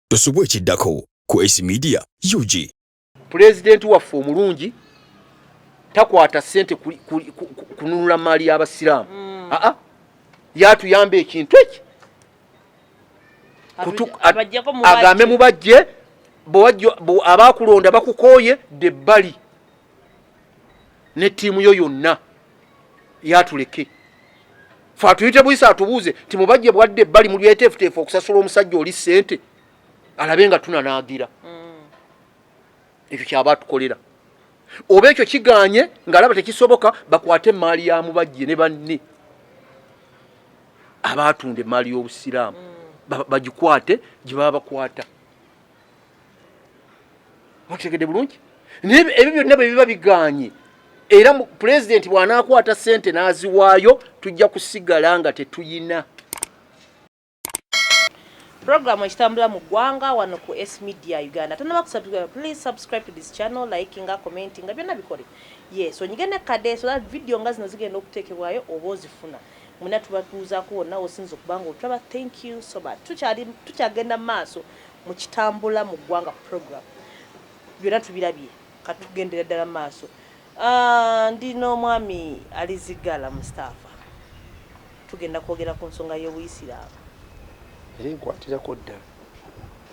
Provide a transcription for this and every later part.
tosubwa ekiddako ku Ace Media UG. Pulezidenti waffe omulungi takwata ssente kununula maali y'Abasiraamu. Mm. Aa ah, ah. yatuyamba ekintu eki agambe mubajje abaakulonda bakukooye dde bbali ne ttiimu yo yonna. yatuleke fe atuyite buyisa atubuuze nti mubajje bwadde ebbali muli beteefuteefu okusasula omusajja oli ssente alabe nga tunanaagira mm. ekyo kyaba atukolera oba ekyo kiganye ngaalaba tekisoboka bakwate emaali ya mubajje ne banne abaatunda emaali y'obusiraamu mm. bagikwate gye baba bakwata mukitegedde bulungi naye ebyo byonna bwe biba bigaanye era pulezidenti bw'anaakwata ssente n'aziwaayo tujja kusigala nga tetuyina Program ekitambula mu ggwanga wano ku S Media Uganda. Tonaba kusubscribe, please subscribe to this channel, liking, commenting, nga byonna bikole. Yes, onyige ne kade so that video nga zino zigenda okuteekebwayo oba ozifuna. Muna tubatuuzaako wonna osinza okubanga otulaba. Thank you so much. Tukyali tukyagenda maaso. mu kitambula mu ggwanga ku program byona tubirabye kati tugendera ddala maaso ah, ndi n'omwami alizigala mustafa tugenda kwogera ku nsonga y'obuyisiraamu era enkwatirako ddala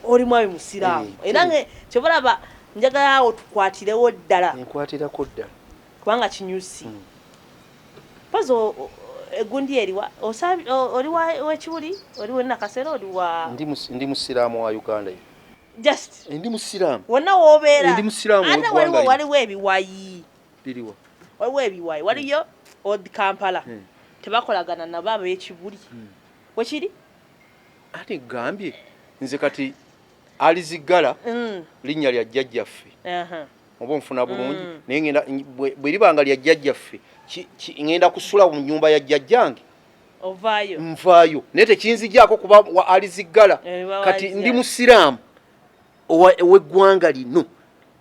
oli mwami musiraamu eh, era kyobalaba njagala awo tukwatirewo ddala enkwatirako ddala kubanga kinyusi pozi egundi eriwa osabi oli wa wekibuli oli wena kasera oli wa ndi mus ndi musiramu wa uganda ye just ndi musiramu wona wobera ndi musiramu anda wali wa wali webi wayi biriwa wali webi wayi wali yo old kampala hmm. tebakolagana na baba yekibuli hmm. wekiri ate gambye nze kati alizigala mm. linya lya jajja ffe uh -huh. oba onfuna bulungi mm. naye ngenda bwe liba nga lya jjajjaffe ngenda kusula mu nyumba ya jjajjange ovaayo nvaayo naye tekinzijaako kuba wa aliziggala eh, kati ndi musiraamu ow'eggwanga lino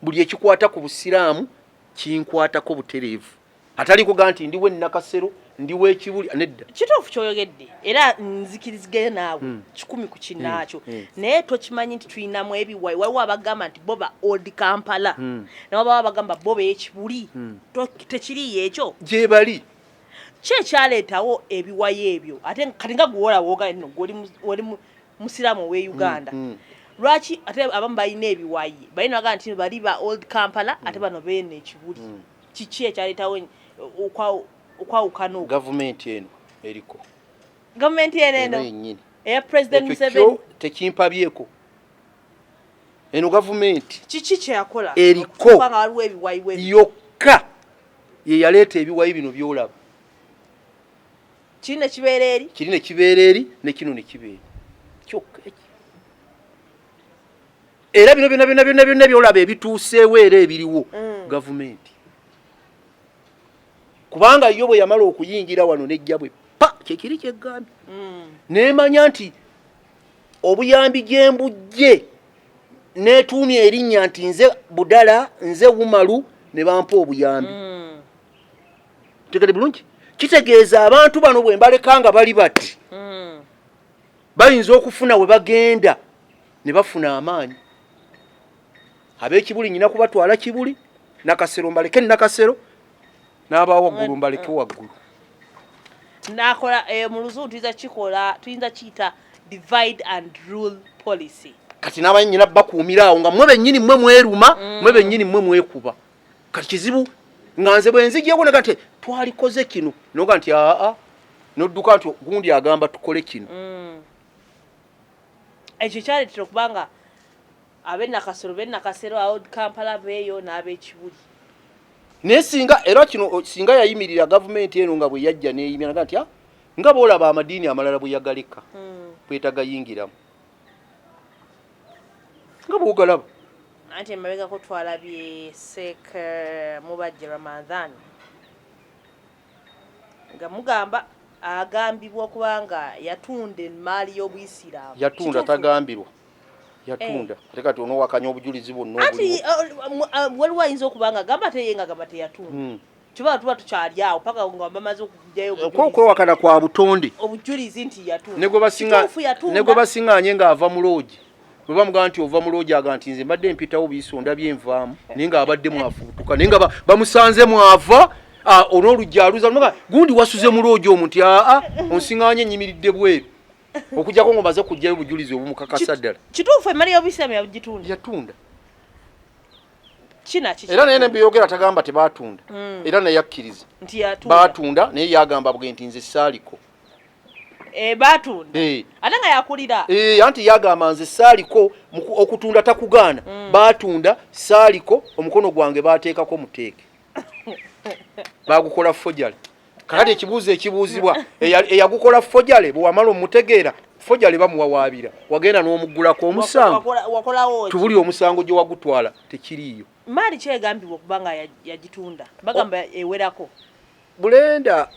buli ekikwata ku busiraamu kinkwatako butereevu atali kuga nti ndiwe nakasero ndiwe ekibuli nedda kituufu kyoyogedde era nzikirizigere naawe mm. kikumi ku kinaakyo mm. mm. naye tokimanyi nti tulinamu ebiwayi waliwo abagamba nti boba old kampala mm. nawabawo abagamba boba ekibuli mm. tekiriyo ekyo gyebali ki ekyaleetawo ebiwayi ebyo ate kati nga guwola woogale no gwoli musiraamu owe mm, uganda mm, mm. lwaki ate abamu balina ebiwayi balina bagaa nti bali ba old kampala ate bano beena ekibuli mm. kiki ekyaletawo okwawukana gavumenti eno eriko gavumenti eno eno yenyini eya president museveni tekimpabyeko eno gavumenti kiki kyeyakola eriko yokka yeyaleeta ebiwayi bino byolaba kiri nekibeera eri kiri nekibeera eri nekino nekibeera kyokka era bino byona byona byona byona byolaba ebituuseewo era ebiriwo mm. gavumenti kubanga yo bwe yamala okuyingira wano nejja bwe pa kyekiri kyeggambye mm. nemanya nti obuyambi gyembujje netuumya erinnya nti nze budala nze wumalu ne bampa obuyambi mm. tegede bulungi kitegeeza abantu bano bwe mbaleka nga bali bati bayinza okufuna we bagenda ne bafuna amaanyi ab'ekibuli nyina kubatwala kibuli nakasero mbaleke nakasero n'abawaggulu mbaleke waggulu nakola eh, mu luzungu tuyinza kikola tuyinza kiyita divide and rule policy kati n'abaye nyina bakuumira awo nga mwe bennyini mwe mweruma mm. mwe bennyini mwe mwekuba kati kizibu nga nze bwenzijeko naga nti twalikoze kino noga nti aa nodduka nti gundi agamba tukole kino mm. ekyo kyaletera okubanga abenakasero benakasero awo kampala beeyo n'abekibuli naye singa era kino singa yayimirira gavumenti eno nga bwe yajja neyimira naga nti nga boolaba amadiini amalala bwe yagaleka mm. bwetagayingiramu nga bwogalaba anti emabegako twalabye sek eh, mubajje ramadhan nga mugamba agambibwa okuba nga yatunda emaali y'obuyisiraamu yatunda tagambirwa yatunda eh. ate kati onowakanya obujulizi bwonna anti eh, waliwo ayinza okuba nga agamba teye nga gamba teyatunda hmm. kiba tuba tukyali awo paka nga bamaze okujayokwewakana eh, kwa butonde obujulizi nti yatuufunegobasingaanye ng'ava mu loogi bwe bamugamba nti ova mu loogi aga nti nze mbadde mpitawo biiso ndabye nvaamu naye nga abadde mwafubutuka naye nga bamusanze mwava olwoluggi aluza noga gundi wasuze mu loogi omuntu aa onsingaanye enyimiridde bweru okujjako ngaomaze kujjayo obujulizi obumukakasa ddala kituufu emali yobisiramu yagitunda yatunda era naye nebyeyogera tagamba tebatunda mm. era naye akkiriza batunda naye yagamba bwe nti nze saaliko eh, batunda eh. ate nga yakulira eh, anti yagamba nze saaliko okutunda takugaana mm. batunda saaliko omukono gwange bateekako muteeke bagukola fojale kakati ekibuuzo ekibuuzibwa eyagukola fojale bwewamala omutegeera fojale bamuwawaabira wagenda n'omuggulako omusango tubuli omusango gye wagutwala tekiriiyo maali kyegambibwa okuba nga yagitunda bagamba ewerako bulenda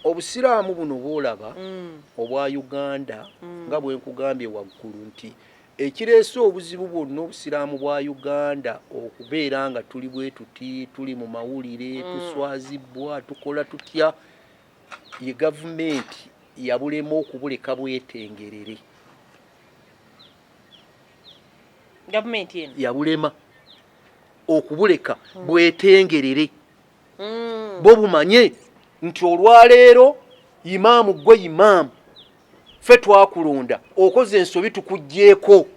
obusiraamu buno bwolaba mm. obwa uganda mm. nga bwenkugambye waggulu nti Ekireese obuzibu bwonna obusiraamu bwa Uganda okubeera nga tuli bwe tuti, tuli mu mawulire, mm. tuswazibbwa, tukola tutya, ye gavumenti yabulema okubuleka bwetengerere. Gavumenti eno yabulema okubuleka mm. bwetengerere. Mm. Bo bumanye nti olwaleero imaamu gwe imaamu fe twakulonda okoze ensobi tukugjeeko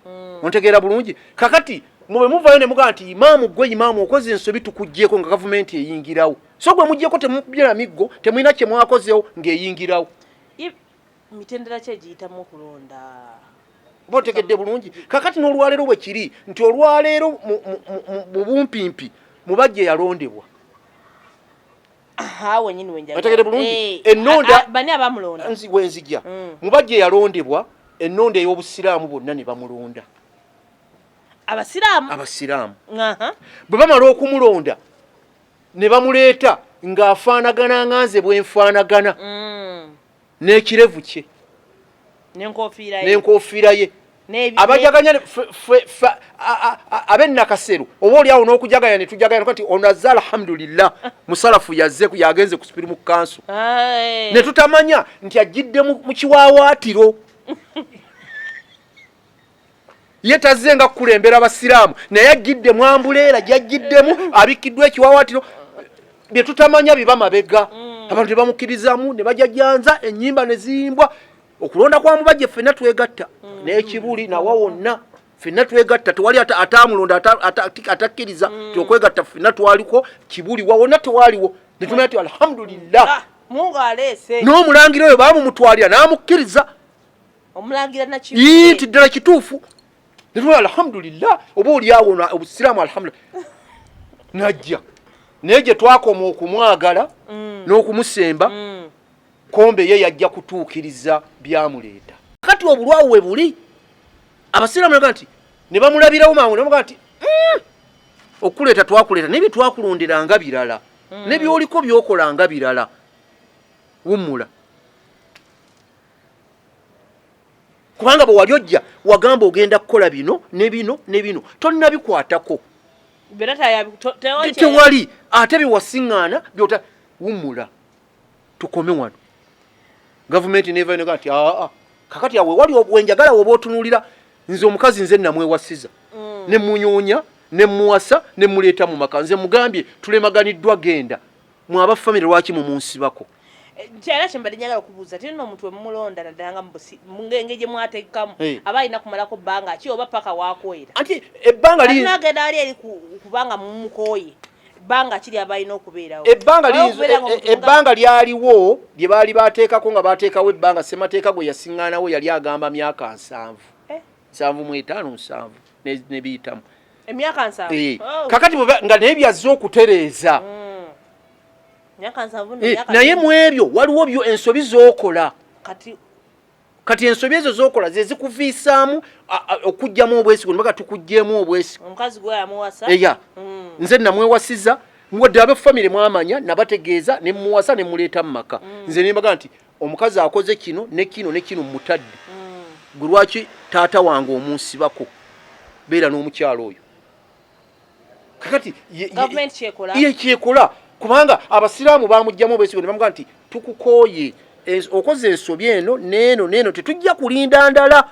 hmm. ontegeera bulungi kakati mube muvayo ne mugaa nti imaamu gwe imaamu okoze ensobi tukugjeeko nga gavumenti eyingirawo so gwe mugjeeko temubyera miggo temulina kye mwakozewo ng'eyingirawo mitendera ki egiyitamu okulonda oba otegedde bulungi kakati n'olwaleero bwe kiri nti olwaleero mu bumpimpi mubajja eyalondebwa ategede bulungi eh, enonda wenzija mm. mubajja eyalondebwa enonda ey'obusiraamu bonna ne bamulonda abasiraamu abasiraamu bwe bamala okumulonda ne bamuleeta ng'afaanagana nga nze bwe nfaanagana mm. n'ekirevu kye n'enkofiira ye abajaganya abe nakaseru oba olyawo n'okujaganya ne tujaganya kati ono azze alhamdulillah musalafu yazze yagenze ku sipiri mu kanso ne tutamanya nti ajjidde mu kiwawaatiro ye tazze nga kukulembera abasiraamu naye ajjidde mwambuleera gyajjiddemu abikkiddwa ekiwawaatiro bye tutamanya biba mabega mm. abantu tebamukkirizamu ne bajajanza ennyimba ne ziyimbwa okulonda kwa mubajje ffenna twegatta mm. n'ekibuli nawa wonna ffenna twegatta tewali atamulonda atakkiriza mm. tiokwegatta ffenna twaliko kibuli wa wonna tewaliwo netumanya ti alhamdulillah ah, n'omulangira oyo baamumutwalira n'amukkiriza omulangira nakiyii nti ddala kituufu netula alhamdulillah oba olyawo obusiraamu alhamdulillah najja naye gye twakoma okumwagala mm. n'okumusemba mm. kombe ye yajja kutuukiriza byamuleeta kati obulwawo we buli abasiraamu naga nti ne bamulabirawo mangu namuga nti mm, okuleeta twakuleeta naye byetwakulonderanga birala nebyoliko byokolanga birala wummula kubanga bwewali ojja wagamba ogenda kukola bino ne bino ne bino tonnabikwatako tewali ate byewasiŋŋaana byota wumula tukome wano gavumenti nevainoga nti aa kakati awe wali obwenjagala woba otunuulira nze omukazi nze namwewasiza mm. ne munyoonya ne muwasa ne muleeta mu maka nze mugambye tulemaganiddwa genda mwe aba famire lwaki mumunsibako kyala kyembadde njagala okubuuza ti nno omuntu wemumulonda naddala nga mungenge gye mwateekamu aba alina kumalako bbanga ki oba paka wakoyera anti ebbanga linagenda ali eri kubanga mumukooye ebbanga kiri abalina okubeerawo ebbanga lyaliwo lye baali bateekako nga bateekawo ebbanga ssemateeka gwe yasiŋŋaanawo yali agamba myaka nsanvu eh? nsanvu mu etaano nsanvu nebiyitamu emyaka nsanvu eh, oh. kakati nga naye byazze okutereeza mm. eh, naye mu ebyo waliwo byo ensobi zokola kati ensobi ezo zokola zezikuviisaamu okugjamu obwesigo nibaga tukugjeemu obwesigo eya mm. nze namwewasiza wadde abe famire mwamanya nabategeeza nemuwasa nemuleeta mu maka mm. nze nembaga nti omukazi akoze kino ne kino ne kino mutadde mm. gwe lwaki taata wange omunsibako beera n'omukyalo oyo kakati ye kyekola kubanga abasiraamu bamugjamu obesigo nebamuga nti tukukooye okoze ensobi eno neeno neeno tetujja kulinda ndala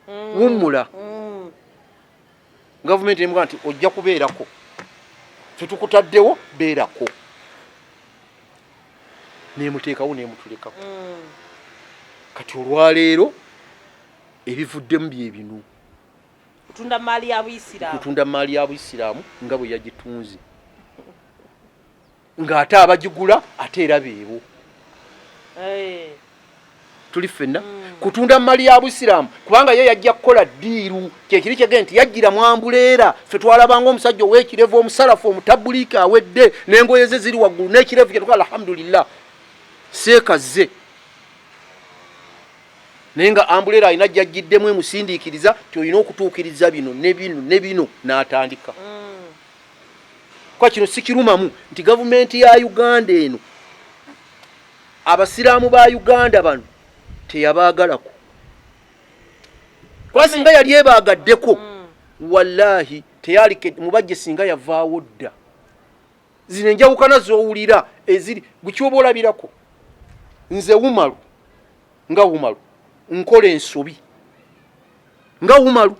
mm. wummula mm. gavumenti emuga nti ojja kubeerako fetukutaddewo beerako nemuteekawo nemutulekako mm. kati olwaleero ebivuddemu byebino kutunda maali ya buisiraamu nga bwe yagitunze ng'ate abagigula ate era beebo eh. tuli ffenna hmm. kutunda mali ya busiraamu kubanga ye yajja kukola ddiiru kyekiri kyege nti yajjira mwambuleera ffe twalabanga omusajja ow'ekirevu omusalafu omutabuliiki awedde n'engoye ze ziri waggulu n'ekirevu kyetuka alhamdulillah seekazze naye nga ambuleera alina jajjiddemu emusindiikiriza ti olina okutuukiriza bino ne bino ne bino n'atandika mm. kwa kino sikirumamu nti gavumenti ya uganda eno abasiraamu ba uganda bano teyabaagalako kuba singa yali ebaagaddeko hmm. wallaahi teyalike mubajje singa yavaawo dda zino enjawukana zowulira eziri gukyoba olabirako nze wumalu nga wumalu nkola ensobi nga wumalu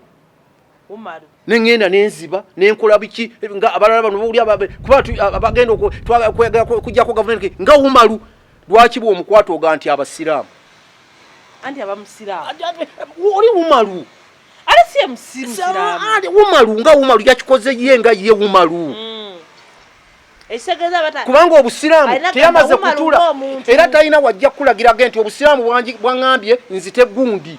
nengenda nenziba nenkola biki nga abalala bano bawuli kuba abagenda okujjako gavumenti nga umaru lwaki bwe omukwata oga nti abasiraamu oli umaru umaru nga umaru yakikoze ye nga ye umaru mm. kubanga obusiraamu teyamaze kutula era talina wajja kukulagirage nti obusiraamu bwaŋambye nzite gundi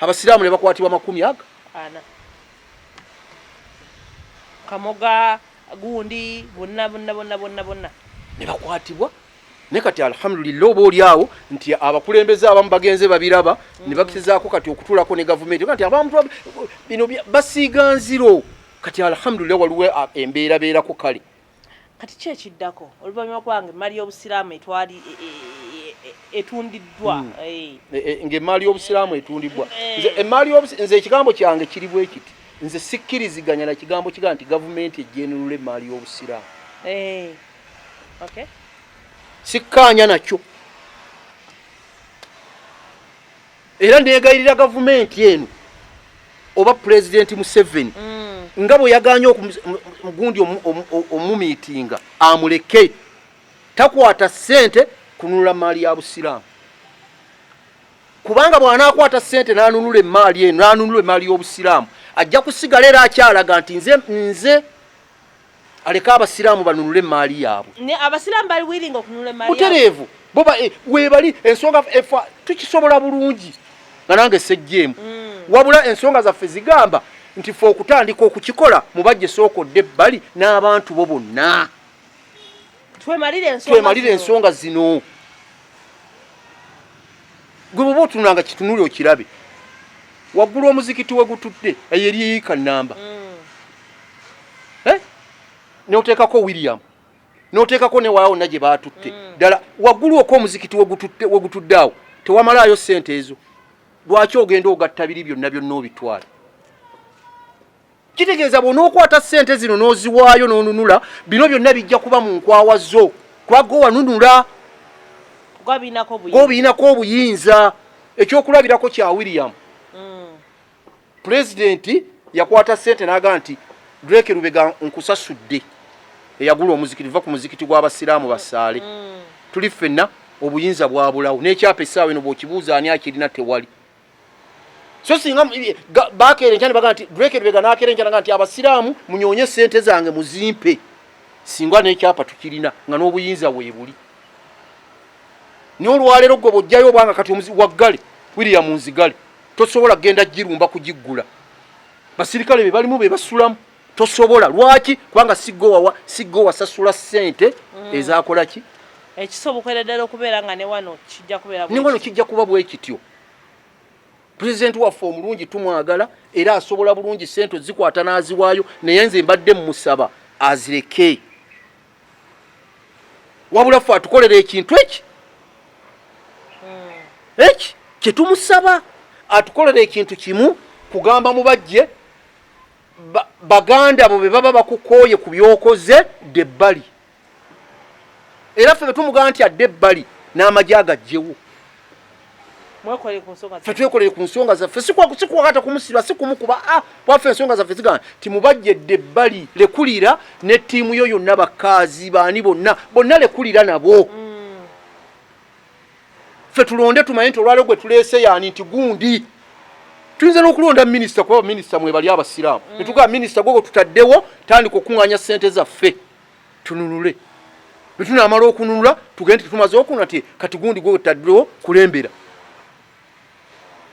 abasiraamu ne bakwatibwa makumi aga ana kamoga gundi bonna bonna bonna bonna bonna ne bakwatibwa naye kati alhamdulillah oba olyawo nti abakulembeze abamu bagenze babiraba mm. ne bakizaako kati okutulako ne gavumenti kati abantu bino basiiga nziro kati alhamdulillah waliwo embeerabeerako kale Kati ki ekiddako oluvannyuma kuba nga emmaali y'Obusiraamu etwali e, e, e, etundiddwa hmm. eh. ng'emmaali y'Obusiraamu etundiddwa eh. nze emmaali nze ekigambo kyange kiri bwe kiti nze sikkiriziganya na kigambo kigaa nti gavumenti ejjenulula emmaali y'Obusiraamu eh. sikkaanya nakyo Era negayirira gavumenti eno oba pulezidenti Museveni mm. nga bwe yaganye omugundi omumiitinga amuleke takwata ssente kununula maali ya busiraamu kubanga bw'anaakwata ssente n'anunula emmaali eno n'anunula emmaali y'obusiraamu ajja kusigala era akyalaga nti nze nze aleke abasiraamu banunule emmaali yaabwe abasiraamu bali wiringa okununula emmaali butereevu bo eh, webali ensonga efa eh, tukisobola bulungi nga nange sejjeemu mm. wabula ensonga zaffe zigamba nti fe okutandika okukikola mubajje sooka odde ebbali n'abantu bo bonna twemalire ensonga zino gwe bwoba otunula nga kitunuli okirabe waggulu omuzikiti we gutudde eyo eriyika namba mm. eh? noteekako william noteekako newawona gye baatutte mm. ddala waggulu oko omuzikiti we gutudde awo tewamalaayo ssente ezo lwaki ogenda ogatta biri byonna byonna obitwala kitegeeza bw'onookwata ssente zino n'oziwaayo n'onunula bino byonna bijja kuba mu nkwawa zo kuba gwe wanunula gobiyinako obuyinza ekyokulabirako kya william mm. pulezidenti yakwata ssente n'aga nti drake lubega nkusasudde eyagula omuzikiti va ku muzikiti gw'abasiraamu basaale mm. tuli ffenna obuyinza bwabulawo n'ekyapa essaawa eno bw'okibuuza ani akirina tewali so singa bakeera enkya nebaga nti drake lubega nakeera enkya naga nti abasiraamu munyoonye sente zange muzimpe singa nekyapa tukirina nga n'obuyinza weebuli naye olwaleero gwe bwojjayo obwanga kati omuzi waggale william nzigale tosobola kugenda girumba kugiggula basirikale be balimu be basulamu tosobola lwaki kubanga sigowawa sigo wasasula sente mm. ezakola ki ekisobokerera ddala okubeera nga newano kijja kubeera newano kijja kuba bwekityo pulezidenti waffe omulungi tumwagala era asobola bulungi sente ozikwata n'aziwaayo naye nze mbadde mumusaba azireke wabula fe atukolera ekintu eki hmm. eki kyetumusaba atukolera ekintu kimu kugamba mubajje baganda bo bebaba bakukooye ku byokoze de bbali era ffe betumugamba nti adde ebbali n'amagye agajjewo fe twekolere ku nsonga zaffe sikwakata kumusiba si kumukuba a ah, kwaffe ensonga zaffe zigamba nti mubajjedde ebbali lekulira ne ttiimu yo yonna bakaazi baani bonna bonna lekulira nabo mm. fe tulonde tumanye nti olwaleo gwe tuleese yaani nti gundi tuyinza n'okulonda minisita kuba baminisita mwebali abasiraamu mm. netugamba minisita gwe gwe tutaddewo tandika okuŋŋanya ssente zaffe tununule bwe tunaamala okununula tugende tetumaze okunula ti kati gundi gwe wetaddewo kulembera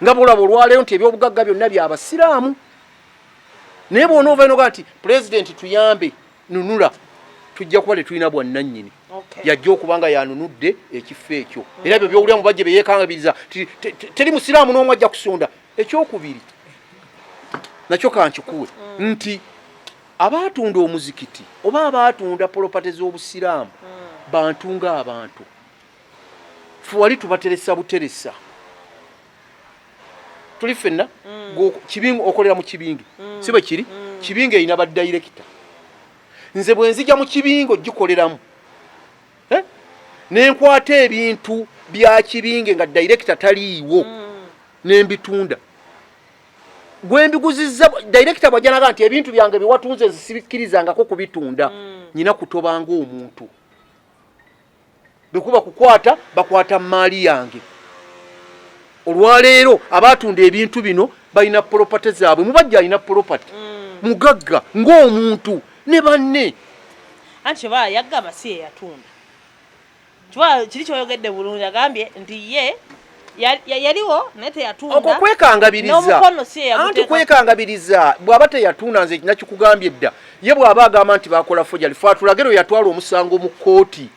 nga bwolaba olwaleero nti ebyobugagga byonna bya basiraamu naye bwona ova inoga nti pulezidenti tuyambe nunula tujja kuba tetulina bwannannyini yajja okuba nga yanunudde ekifo ekyo mm. era ebyo byowulira mu bajje beyekangabiriza teri musiraamu n'omu ajja kusonda ekyokubiri nakyo kankikuwe mm. nti Abaatunda omuzikiti oba abaatunda polopate z'Obusiraamu hmm. bantu ng'abantu. Ffe wali tubateresa buteresa. Tuli ffenna hmm. kibingi okolera mu kibingi hmm. si bwe kiri kibingi erina badayirekita. Nze bwe nzija mu kibingi ogikoleramu eh? ne nkwata ebintu bya kibingi nga dayirekita taliiwo ne mbitunda. gwembiguzizza director bwajanaga nti ebintu byange biwatunze zisibikirizangako kubitunda mm. nyina kutobanga omuntu bekuba kukwata bakwata maali yange olwaleero abatunda ebintu bino balina property zaabwe mubajja alina property mm. mugagga ng'omuntu ne banne anti oba yagamba si eyatunda Chwa kiri kyoyogedde bulungi agambye nti ye yaliwo naye teyatunda okwo kwekangabiriza anti kwekangabiriza bw'aba teyatunda nze nakikugambye dda ye bw'aba agamba nti bakola fojali fe atulagero yatwala omusango mu kkooti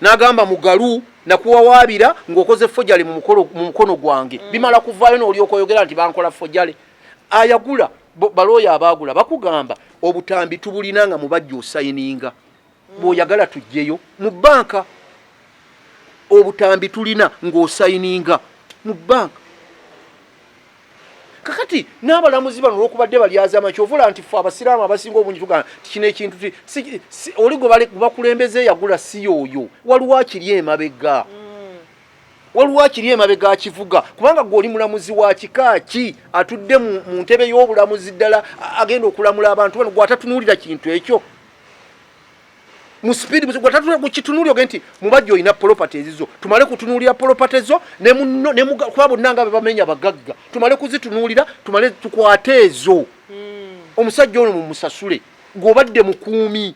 n'agamba mugalu nakuwawaabira ng'okoze fojali mu mukono gwange mm. bimala kuvaayo n'olyoka oyogera nti bankola fojali ayagula balooya abaagula bakugamba obutambi tubulina nga mubajja osayininga mm. bwoyagala tujjeyo mu banka obutambi tulina ng'osayininga mu banka kakati n'abalamuzi bano olwokubadde balyazama kyovula nti fe abasiraamu abasinga obungi tugana tikino ekintu oli gwebakulembeze yagula si yooyo waliwo akiri emabega mm. waliwo akiri emabega akivuga kubanga gwe oli mulamuzi wa kika ki atudde mu ntebe y'obulamuzi ddala agenda okulamula abantu bano gwe atatunuulira kintu ekyo mu speed gwe tatula gwe kitunuli oge nti mubajja olina property ezizo tumale kutunulira property zo ne muno ne muga kwa bonna nga bebamenya bagagga tumale kuzitunulira tumale tukwate ezo mm. omusajja ono mumusasule gwobadde mukuumi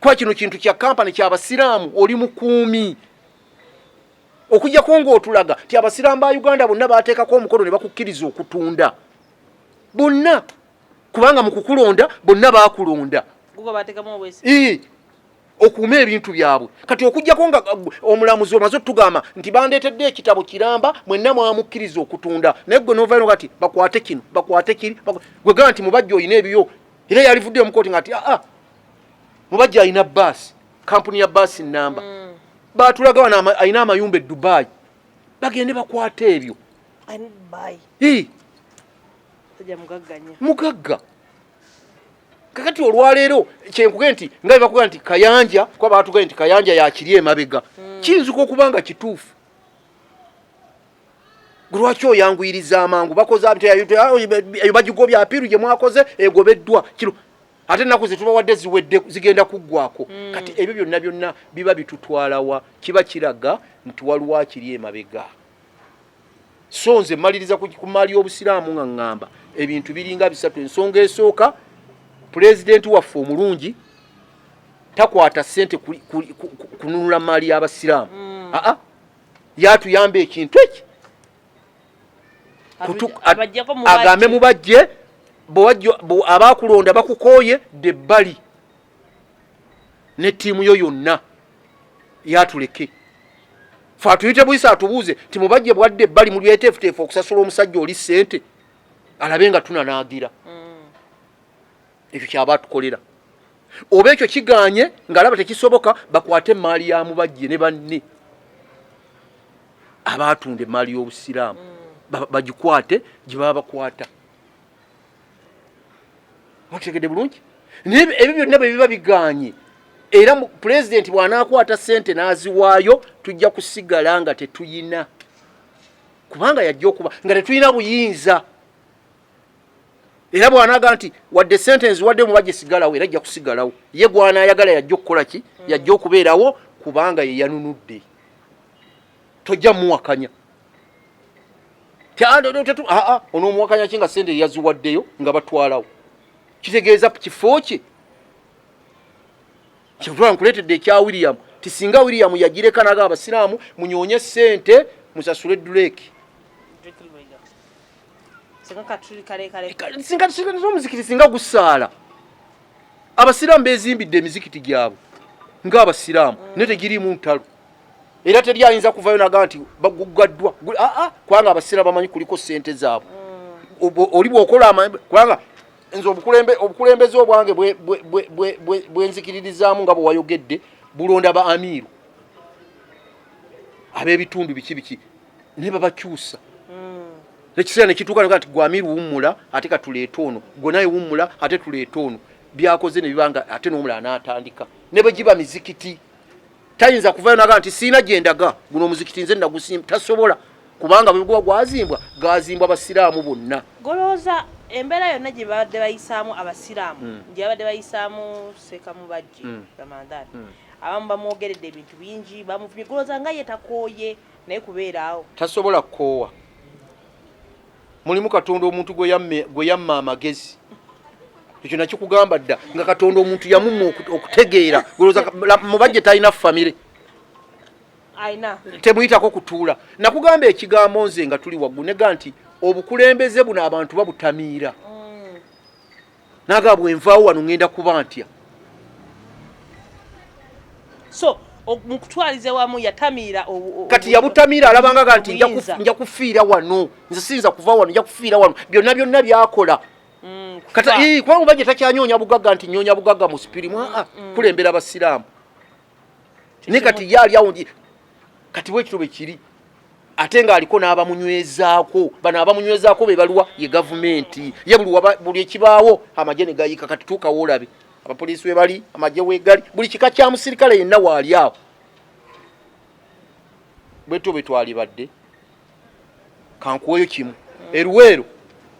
kwa kino kintu kya kampani kya basiraamu oli mukuumi okujjako ng'otulaga ti abasiraamu ba uganda bonna bateekako omukono ne bakukkiriza okutunda bonna kubanga mu kukulonda bonna baakulonda okuuma ebintu byabwe kati okujjako nga omulamuzi omaze otugamba nti bandeetedde ekitabo kiramba mwenna mwamukkiriza okutunda naye gwe novayo kati bakwate kino bakwate kiri gwe gamba nti mubajja olina ebiyo era yalivuddeyo mukooti nga ti aa ah, ah, mubajja alina baasi kampuni ya baasi namba mm. batulaga wano alina amayumba e dubayi bagende bakwate ebyo mugagga kakati olwaleero kyenkuge nti nga bebakuga nti kayanja kuba baatugae nti kayanja yakiri emabega hmm. kiyinzika okuba nga kituufu lwaki oyanguyiriza amangu bakoze eyo bagigobya apiiru gye mwakoze egobeddwa kino ate ennaku zetubawadde ziwedde zigenda kuggwako hmm. kati ebyo byonna byonna biba bitutwalawa kiba kiraga nti waliwo akiri emabega so nze maliriza ku maali y'obusiraamu nga ŋŋamba ebintu biringa bisatu ensonga esooka pulezidenti waffe omulungi takwata ssente kununula maali y'abasiraamu mm. aa yatuyamba ekintu eki agambe mubajje abaakulonda bakukooye debbali ne ttiimu yo yonna yatuleke fe atuyite buyisa atubuuze nti mubajje bwadde ebbali mu byeteefuteefu okusasula omusajja oli ssente alabe nga tunanaagira mm. ekyo kyaba atukolera oba ekyo kiganye ngaalaba tekisoboka bakwate emaali ya mubajje ne banne abaatunda emaali y'obusiraamu mm. bagikwate gye baba bakwata mukitegedde bulungi naye ebyo byonna bwe biba bigaanye era pulezidenti bw'anaakwata ssente n'aziwaayo tujja kusigala nga tetuyina kubanga yajja okuba nga tetulina buyinza era bw'anaaga nti wadde ssente nziwadde muba gyesigalawo era ajja kusigalawo ye gw'anaayagala yajja okukola ki yajja okubeerawo kubanga ye yanunudde tojja muwakanya ono omuwakanya ki nga sente eyaziwaddeyo nga batwalawo kitegeeza kifo kye kyeva nkuleetedde ekya william ti singa william yagireka naga abasiraamu munyoonye sente musasule duleeki omuzikiti singa gusaala abasiraamu bezimbidde emizikiti gyabwe ngaabasiraamu mm. naye tegiriimu ntalo era teri ayinza kuvayo naga nti baguggaddwa aa ah, ah, kubanga abaseera bamanyi kuliko sente zaabwe mm. oli bwokola amanyi kubanga nze obukulembeze obwange bwenzikiririzaamu nga bwewayogedde bulonda ba amiiru ab'ebitundu biki biki naye babakyusa mm. ekiseera nekituuka nti gwe amiiru wummula ate katuleete ono gwe naye wummula ate tuleete ono byakoze ne bibanga ate n'omulala n'atandika ne bwe giba mizikiti tayinza kuvayo naga nti siina gyendaga guno omuzikiti nze nagusimba tasobola kubanga bweguba gwazimbwa gazimbwa basiraamu bonna golowooza embeera yonna gye babadde bayisaamu abasiraamu hmm. gye babadde bayisaamu sekamubajji hmm. ramadhan hmm. abamu bamwogeredde ebintu bingi bamuvumye golowooza nga ye takooye naye kubeeraawo tasobola kukoowa mulimu katonda omuntu gwe yamma amagezi ekyo nakikugamba dda nga katonda omuntu yamumma okutegeera mubajje talina famire temuyitako kutuula nakugamba ekigambo nze nga tuli waggulu nega nti obukulembeze buno abantu babutamiira mm. naga bwenvaawo wano ŋŋenda kuba ntya so mukutwaliza wamu yatamiira kati yabutamiira alabangaga nti nja kufiira wano nze siyinza kuva wano nja kufiira wano byonna byonna byakola mm, kati kubanga oba gye takyanyonya bugagga nti nyonya bugagga mu sipirimu aa mm, mm. kulembera basiraamu naye kati ye ali awo kati bwekityo bwe kiri ate ng'aliko n'abamunywezaako bano abamunywezaako be baluwa ye gavumenti ye buli ekibaawo amagye ne gayiika kati tuukawo olabe abapoliisi we bali amagye wegali buli kika kya musirikale yenna waali awo bwetyo bwe twalibadde kankuweyo kimu eruweero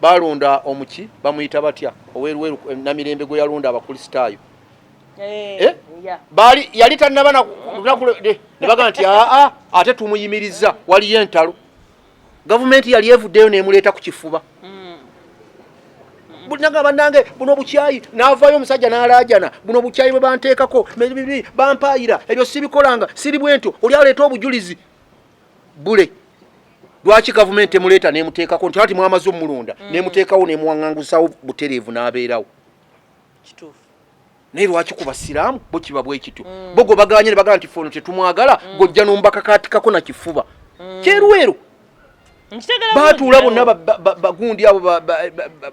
balonda omuki bamuyita batya oweruweru eh, namirembe gwe yalonda abakulisitaayo eh, eh? bali yali tanaba nebagamba nti aa ah, ah, ate tumuyimiriza waliyo entalo gavumenti yali evuddeyo nemuleeta ku kifuba hmm. naga banange buno bukyayi navayo omusajja nalajana buno bukyayi bwe banteekako bibi bampayira ebyo sibikolanga siri bwentyo oli aleeta obujulizi bule lwaki gavumenti emuleeta nemuteekako nti ati mwamaze omulonda mm. nemuteekawo nemuwaŋangusawo butereevu n'abeerawo naye lwaki ku basiraamu bo kiba bwekityo mm. bo gwe baganye ne bagamba nti fe ono tetumwagala mm. gojja nombakakaatikako na kifuba mm. kyerweru baatuula bonna bagundi abo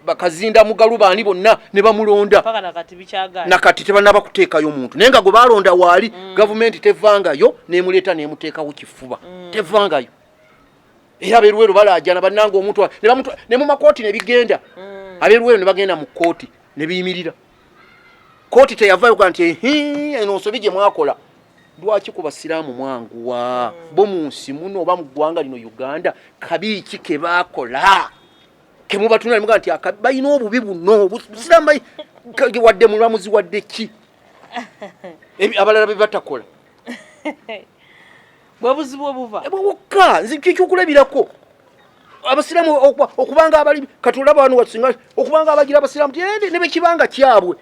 bakazinda mugalu baani bonna ne bamulonda nakati tebanaba kuteekayo muntu naye nga gwe balonda waali mm. gavumenti tevangayo nemuleeta nemuteekawo kifuba mm. tevangayo era aberuwero balaajana bannanga omuntu ne mumakooti ne bigenda mm. aberuwero ne bagenda mu kooti ne biyimirira kooti teyavayo ga nti eno nsobi gye mwakola lwaki ku basiraamu mwanguwa bo mu nsi muno oba mu ggwanga lino uganda kabi ki ke baakola kemubatunula muga nti balina obubi buno busiraamu wadde mulamuzi wadde ki abalala be batakola bwebuzibu obuva ebwo bukka nze kyekyokulabirako abasiramu okubanga abali katula bano wasinga okubanga abagira abasiramu tende nebekibanga kyabwe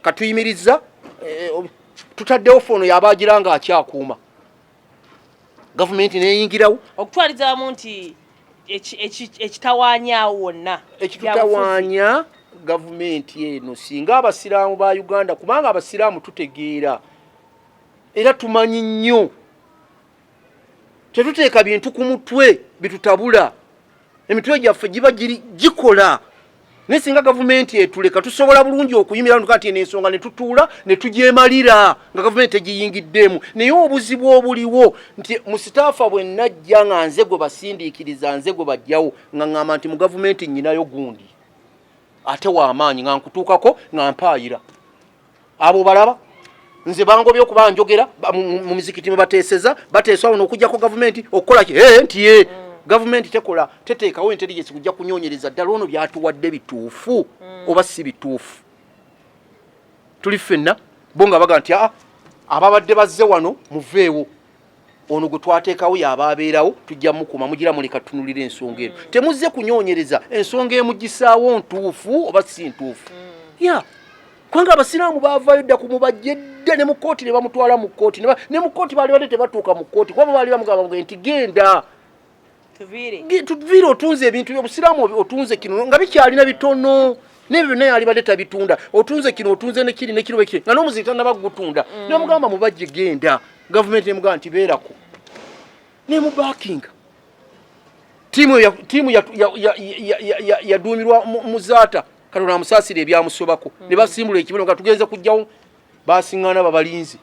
katuyimiriza eh, tutaddewo foono yabagira nga akyakuuma gavumenti neyingirawo okutwalizamu nti ekitawanya wonna ekitutawanya gavumenti eno singa abasiraamu ba uganda kubanga abasiraamu tutegeera era tumanyi nnyo tetuteeka bintu ku mutwe bitutabula emitwe gyaffe giba gikola naye singa gavumenti etuleka tusobola bulungi okuyimira nuka nti eno ensonga ne tutuula ne tugyemalira nga gavumenti tegiyingiddeemu naye obuzibu obuliwo nti mu sitaafa bwe najja nga nze gwe basindiikiriza nze gwe bajjawo nga ŋŋamba nti mu gavumenti nnyinayo gundi ate w'amaanyi nga nkutuukako nga mpaayira abo balaba nze bangobye okuba njogera mu mizikiti mwe bateeseza bateesa ono okujjako gavumenti okukola ki ee nti ye mm. gavumenti tekola teteekawo intelligence kujja kunyonyereza ddala ono byatuwadde bituufu mm. oba si bituufu tuli ffenna bo nga baga nti aa ah, ababadde bazze wano muveewo ono gwe twateekawo yaba abeerawo tujja mukuma mugira muleka tutunulira ensonga eno mm. temuzze kunyonyereza ensonga emugisaawo ntuufu oba si ntuufu mm. ya kubanga abasiraamu baavayo dda ku mubajje dda ne mu kkooti ne bamutwala mu kkooti ne mu kkooti baali badde tebatuuka mu kkooti kuba baali bamugamba nti genda tuviire otunze ebintu byobusiraamu otunze kino nga bikyalina bitono nebyo byonna yalibadde tabitunda otunze kino otunze nekiri nekiro ekiri nga n'omuzi tanaba kugutunda mm. nomugamba mubajje genda gavumenti emugamba nti beerako nemubakinga tiimu yaduumirwa muzaata katonda amusaasira ebyamusobako mm. ne basimbula ekibuno nga tugenze kujjawo basiŋŋana babalinzi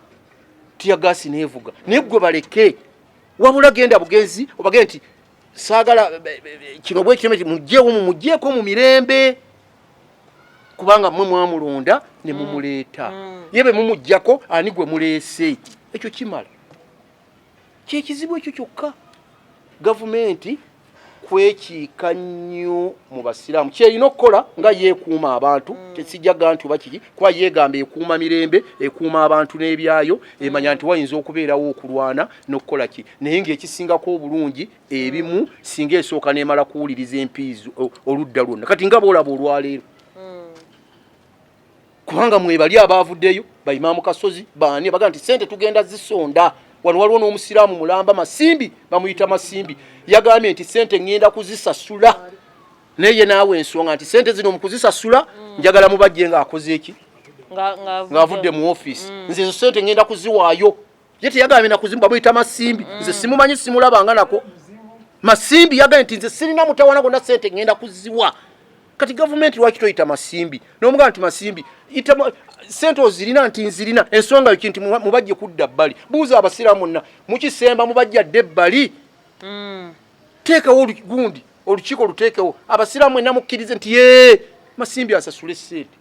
tiyagaasi neevuga naye gwe baleke wabula genda bugenzi obage nti saagala kino bwekiteme ti mujjeewo mumujjeeko mu mirembe kubanga mwe mwamulonda ne mm. mumuleeta mm. ye be mumujjako ani gwe muleese ekyo kimala kyekizibu ekyo kyokka gavumenti kwekiika nnyo mu basiraamu kyerina okukola nga yeekuuma abantu mm. tesijaga nti oba kiki kuba yeegamba ekuuma mirembe ekuuma abantu n'ebyayo mm. emanya nti wayinza okubeerawo okulwana n'okukola ki naye ng'ekisingako obulungi ebimu mm. singa esooka n'emala kuwuliriza empiizi oludda lwonna kati nga boolaba olwaleero kubanga mwebali abaavuddeyo baimaamu kasozi baani abaga nti sente tugenda zisonda wano waliwo n'omusiraamu mulamba masimbi bamuyita masimbi yagambye nti sente ŋŋenda kuzisasula naye naawe ensonga nti sente zino mukuzisasula njagala mubajje nga akoze eki ng'avudde mu ofiisi mm. nze ezo sente ŋŋenda kuziwaayo ye teyagambye nakuzimu bamuyita masimbi mm. nze simumanyi simulabanga nako masimbi yagambye nti nze sirina mutawana gonna sente ngenda kuziwa kati gavumenti lwaki toyita masimbi nomugamba nti masimbi sente ozirina nti nzirina ensonga yoki nti mubajje kudda bbali buuza abasiraamu nna mukisemba mubajja dde ebbali mm. teekawo olugundi olukiiko oluteekewo abasiraamu enna mukkirize nti ye masimbi asasule sente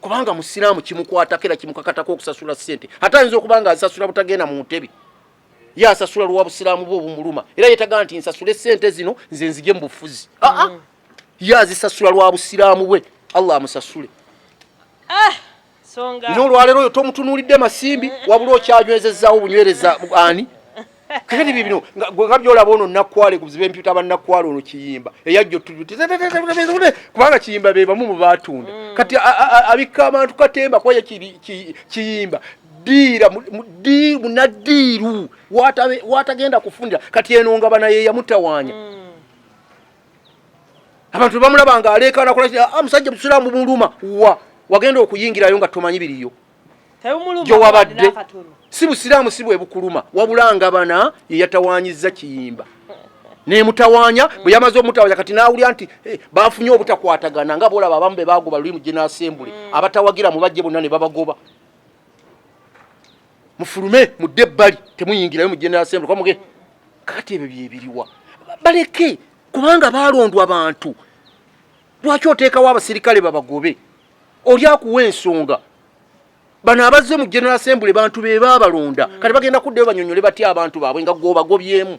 kubanga musiraamu kimukwatako era kimukakatako okusasula ssente ate ayinza okuba nga azisasula butagenda mu ntebe ye asasula lwa busiraamu bwe obumuluma era yetaga nti nsasule ssente zino nze nzije mu bufuzi aa ah, ah. mm. ye azisasula lwa busiraamu bwe allah amusasule ah, nyo olwaleero oyo tomutunuulidde masimbi wabula okyanywezezaawo obunywereza ani kakati bibino nga byolaba ono nakwale kuziba empyuta banakwale ono kiyimba eyajja kubanga kiyimba bebamu mubatunda mm. kati abikka abantu katemba kwaye kiyimba diira munadiiru watagenda kufunira kati eno nga bana yeyamutawanya mm. abantu bamulaba nga aleekana kola ah, musajja musiraamu muluma wa wagenda okuyingirayo nga tomanyi biriyo gyewabadde si busiraamu si bwebukuluma wabula nga bana yeyatawanyiza kiyimba nemutawanya bwe yamaze omutawanya kati nawulira nti eh, bafunye obutakwatagana nga bolaba abamu be bagoba luli mu gina asembule mm. abatawagira mubajje bonna ne babagoba mufulume mudde ebbali temuyingirayo mu gina asembule kwamuge kati ebyo byebiriwa baleke kubanga balondwa bantu lwaki oteekawo abasirikale babagobe oli akuwa ensonga bano abazze mu general assembly bantu be baabalonda mm. kati bagenda kuddayo banyonyole batya abantu baabwe nga gwobagobyemu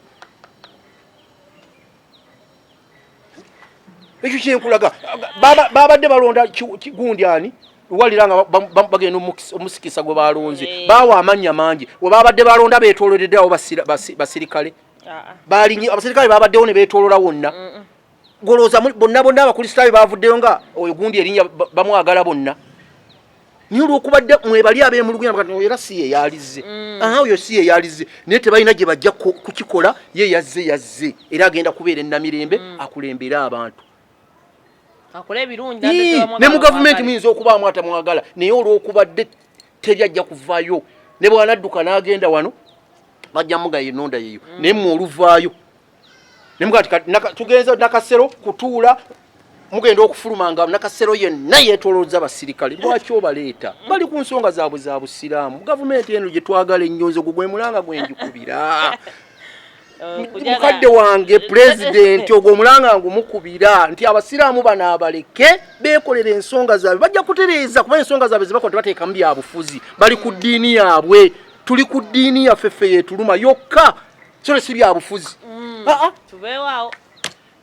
ekyo kyenkulaga babadde balonda gundi ani walira nga bagenda omusikisa gwe balonze eh. baawa amannya mangi webabadde balonda betoloreddeawo basirikale ah, ah. balinye abasirikale babaddewo ne betolola wonna golooza bonna bonna abakristaayo baavuddeyo nga oyo gundi erinya bamwagala bonna naye olwokubadde mwebali abemuluguyaera si ye yalizze mm. aha oyo si ye yalizze naye tebalina gye bajja kukikola ye yazze yazze era agenda kubeera enamirembe mm. akulembere abantu ne mu gavumenti muyinza okubaamu atamwagala naye olwokubadde teri ajja kuvayo ne bwanadduka n'agenda wano bajja mugaye enonda yeyo mm. naye mwe oluvaayo tugenze nakasero kutuula mugenda okufuluma nga nakasero yenna yetolooza basirikale lwaki obaleeta bali ku nsonga zaabwe za busiraamu gavumenti eno gye twagala ennyo nze gugwe mulanga gwe njikubira mukadde wange pulezidenti ogwo omulanga ngumukubira nti abasiraamu bano abaleke beekolera ensonga zaabwe bajja kutereeza kuba ensonga zaabwe zebakola tebateekamu byabufuzi bali ku ddiini yaabwe tuli ku ddiini yaffe ffe yetuluma yokka kino si byabufuzi mm. ah, ah. tubeewaawo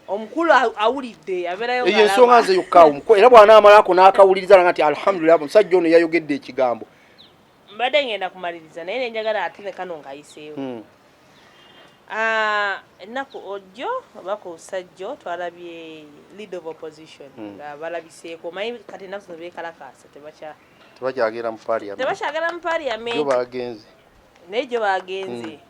omukulu awulidde abeerayo eyo ensonga nze yokka omukulu era bw'anaamalako n'akawuliriza nga nti alhamdulillah omusajja ono yayogedde ekigambo mbadde ngenda kumaliriza naye nenjagala ate ne kano ng'ayiseewo hmm. ah, ennaku ojjo oba ku sajjo twalabye lead of opposition hmm. nga balabiseeko omanyi kati ennaku zino beekalakaasa tebakyagera mu parliament tebakyagera mu parliament bagenze naye gyo bagenze hmm.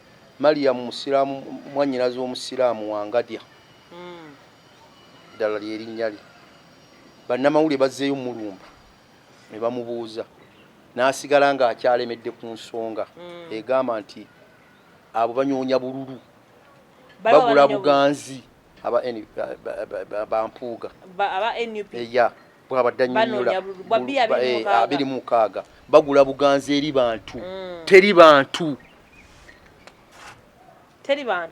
Mariam Musiraamu, mwannyinaze w'Omusiraamu Wangadya, eddala lye linnya lye, bannamawulire bazzeeyo mmulumba ne bamubuuza n'asigala ng'akyalemedde ku nsonga egamba nti abo banyoonya bululu, bagula buganzi aba Mpuuga. bwabadde anyonyola eh, abiri mu mukaaga bagula buganzi eri bantu mm. teri bantu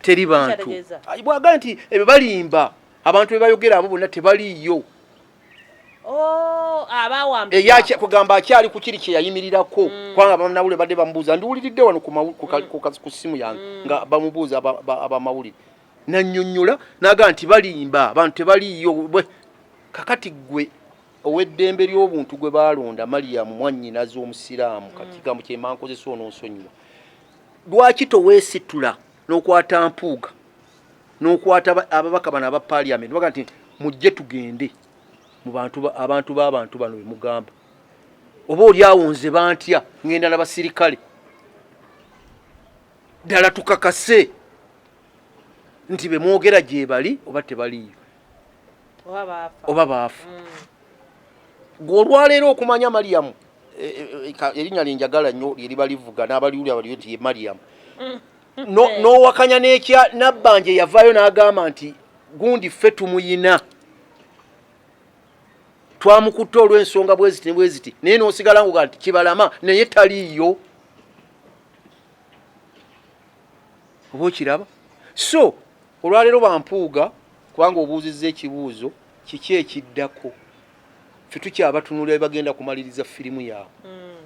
teri bantu bwaga nti ebyo balimba abantu bebayogera abo bonna tebaliiyo oh, kugamba akyali ku kiri kye yayimirirako mm. kubanga banawulire badde bamubuuza ndiwuliridde wano ku mm. simu yange nga bamubuuza abamawulire nanyonyola naga nti balimba abantu tebaliyo bwe kakati gwe oweddembe ly'obuntu gwe baalonda maliyamu mwannyinazi omusiraamu kati mm. kigambo kyemankozesa ononsonyiwa lwaki toweesitula n'okwata mpuuga n'okwata ababaka bano aba paliament baga nti mujje tugende mubantu abantu b'abantu bano bemugamba oba oli awo nze bantya ngenda na basirikale ddala tukakase nti bemwogera gyebali oba tebaliyo oba baafa mm. gwe olwaleero okumanya mariyamu e, e, e, erinnya lyenjagala nnyo lyeriba livuga n'abaliwuli abaliyo nti ye mariyamu mm. n'owakanya n'ekya nabbanja eyavaayo n'agamba nti gundi ffe tumuyina twamukutte olw'ensonga bweziti ne bweziti naye n'osigala nguga nti kibalama naye taliiyo oba okiraba so olwaleero bampuuga kubanga obuuzizza ekibuuzo kiki ekiddako fe tukyabatunula ebagenda kumaliriza firimu yaabwe hmm.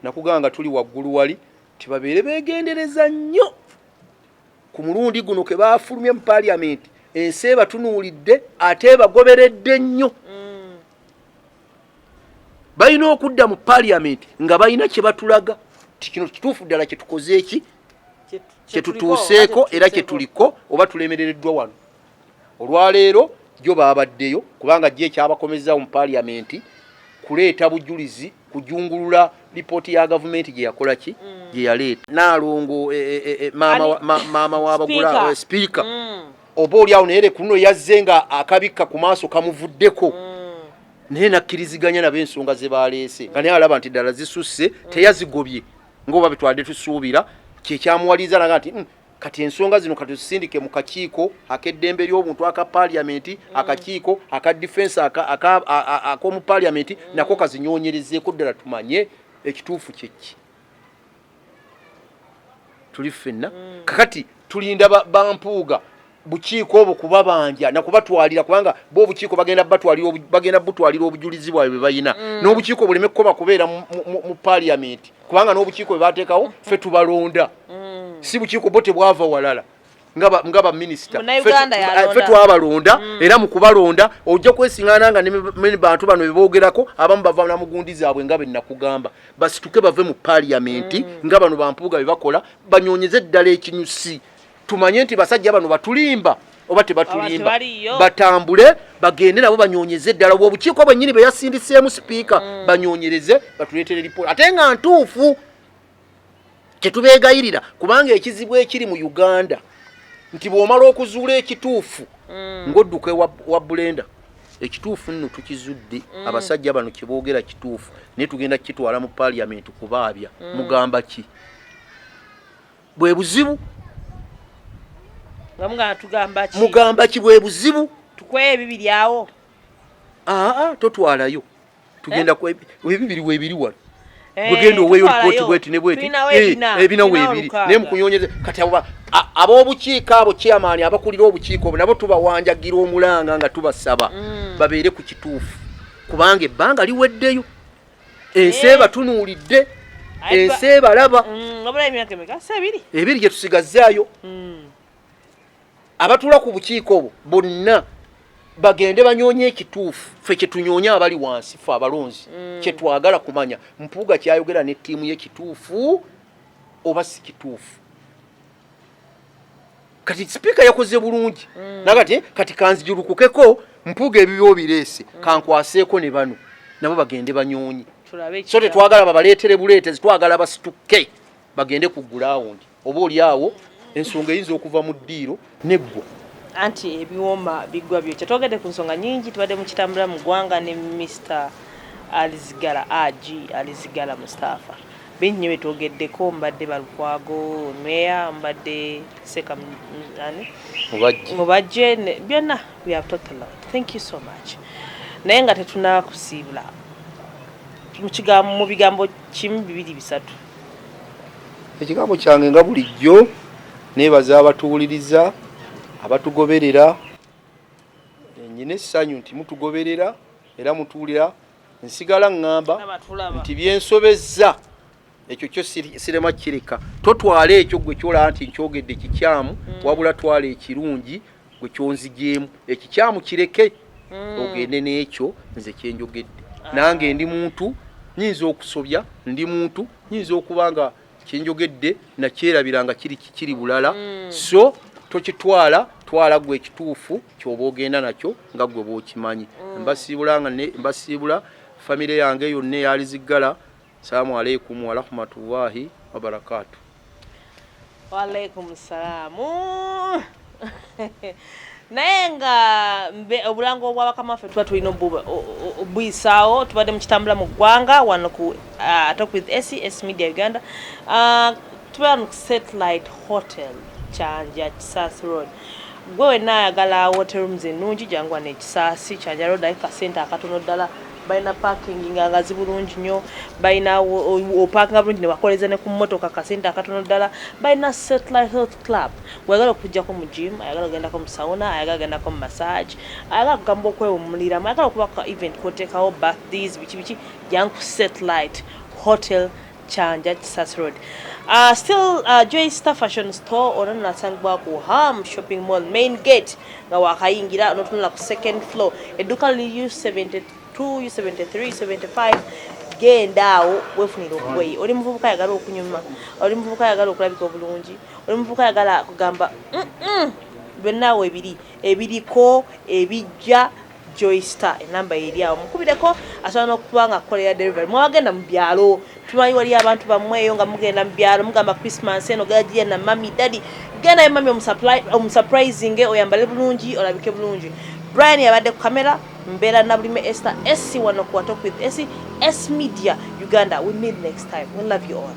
nakugaa nga tuli waggulu wali tibabeere begendereza nnyo ku mulundi guno ke bafulumye mu paliamenti ensi ebatunuulidde ate ebagoberedde nnyo mm. balina okudda mu parliament nga balina kyebatulaga ti kino kituufu ddala kyetukoze eki kyetutuuseeko era kyetuliko oba tulemerereddwa wano olwaleero jo babaddeyo kubanga jo ekyabakomezawo mu parliament kuleeta bujulizi kujungulula lipooti ya gavumenti gye yakola ki mm. gye yaleeta naalongo e, e, e, maama wabagula sipiika mm. oba oli awo naye lekuno yazze nga akabikka ku maaso kamuvuddeko mm. naye nakkiriziganya nabo ensonga ze baleese nga naye alaba nti ddala zisusse teyazigobye ngaoba betwade tusuubira kyekyamuwaliza naga nti kati ensonga zino katuzisindike mu kakiiko akeddembe ly'obuntu aka paliamenti mm. akakiiko aka difensi ak'omu paliamenti mm. nako kazinyonyerezeeko ddala tumanye ekituufu kyekki tuli ffenna mm. kakati tulinda bampuuga bukiiko obwo kubabanja nakubatwalira kubanga bo obukiiko bagenda batwalira bagenda butwalira obujulizi bwabwe bwe balina mm. n'obukiiko buleme kukoba kubeera mu paliamenti kubanga n'obukiiko bwe bateekawo mm. ffe tubalonda mm. si bukiiko bo tebwava walala nga baminisita ffe twabalonda mm. era mu kubalonda ojja kwesingana nga ne bantu bano bebogerako abamu bava na mugundi zaabwe nga benakugamba basituke bave mu paliamenti mm. nga bano bampuuga bebakola banyonyeze eddala ekinyusi tumanye nti basajja bano batulimba oba tebatulimba batambule bagende nabo banyonyeze eddala obukiiko bwennyini bwe yasindiseemu sipiika mm. banyonyereze batuleetere lipooti ate nga ntuufu kyetubeegayirira kubanga ekizibu ekiri mu uganda nti bw'omala okuzuula ekituufu mm. ng'odduka wa bulenda ekituufu nno tukizudde mm. abasajja bano kyeboogera kituufu naye tugenda kukitwala mu paliyamenti kubaabya mugamba ki bwe buzibu nga mugamba tugamba ki mugamba ki bwe buzibu tukweye ebibiri awo aa ah, ah, totwalayo tugenda eh? ku ebibiri webiri wano eh, bwegenda oweyo lipoti bweti ne bweti ebina eh, webiri naye mukunyonyeza kati abo ab'obukiiko abo chairman abakulira obukiiko obo nabo tubawanjagira omulanga nga tubasaba mm. babeere ku kituufu kubanga ebbanga liweddeyo ensi ebatunuulidde ensi ebalaba mm, ebiri gye tusigazzaayo mm. abatula ku bukiiko obwo bonna bagende banyoonye ekituufu ffe kyetunyoonye abali wansi fe abalonzi mm. kyetwagala kumanya mpuuga kyayogera ne ttiimu ye kituufu oba si kituufu kati sipiika yakoze bulungi mm. nakati kati kanzijulukukeko mpuga ebibyo bireese mm. kankwaseeko ne bano nabo bagende banyonyi so tetwagala babaleetere buleete zitwagala basituke bagende ku gulawundi oba oli awo ensonga eyinza okuva mu ddiiro neggwa anti ebiwoma bigwa byokya twogedde ku nsonga nyingi tubadde mukitambula mu ggwanga ne mister alizigala ag alizigala mustapha Bingi nyo byetwogeddeko mbadde Balukwago, Meya mbadde Seka ani? Mubajje byonna we have talked a lot. Thank you so much. Naye nga tetunakusiibula mu bigambo kimu bibiri bisatu. Ekigambo kyange nga bulijjo nebaza abatuwuliriza abatugoberera nyina essanyu nti mutugoberera era mutuwulira nsigala ŋŋamba nti byensobezza ekyo kyo sirema kireka totwala ekyo gwe kyolaba nti nkyogedde kikyamu mm. wabula twala ekirungi gwe kyonzigyemu ekikyamu kireke mm. ogende n'ekyo nze kyenjogedde ah. nange ndi muntu nyinza okusobya ndi muntu nyinza okuba nga kyenjogedde nakyerabira nga kiri kiri bulala mm. so tokitwala twala gwe ekituufu kyoba ogenda nakyo nga gwe bwokimanyi mm. mbasiibula nga mbasiibula famire yange yonna eyaliziggala salaamu aleikum warahmatullahi wabarakatu waalaikum salaamu naye nga obulango obwabakama ffe tuba tulina obuyisaawo tubadde mukitambula mu ggwanga wano ku uh, talk with ses media uganda uh, tubeera nu satellite hotel kyanja kisaasi road gwe wenna ayagala hotel rooms ennungi janguwa nekisaasi kyanja road aye kasente akatono ddala balina parking nga ngazi bulungi nnyo balina opakinga bulungi nebakoleza ne ku mmotoka kasente akatono ddala balina satellite health club weyagala okujjako mu gym ayagala ogendako mu sauna ayagala ogendako mu massage ayagala kugamba okwewumuliramu ayagala okuba event kotekawo birthdays biki biki jangu ku satellite hotel Kyanja Kisasi Road. Uh, still uh, Joy Star Fashion Store ono nasangibwa ku Ham Shopping Mall main gate nga wakayingira onotunula ku second floor edduka lili U72 U73 U75 genda awo wefunira obugoye oli muvubuka ayagala okunyuma oli muvubuka ayagala okulabika obulungi oli muvubuka ayagala kugamba byonna awo ebiri ebiriko ebijja Joy Star enamba eri awo mukubireko asobola n'okuba nga kukolera delivery mwewagenda mu byalo tumanyi wali abantu bamweyo nga mugenda mu byalo mugamba christmas eno gajiya na mami dadi genda ye mami omusurprising oyambale bulungi olabike bulungi brian yabadde ku kamera mbeera nabulime ester esi wano kuwatok with esi s media uganda we meet next time we love you all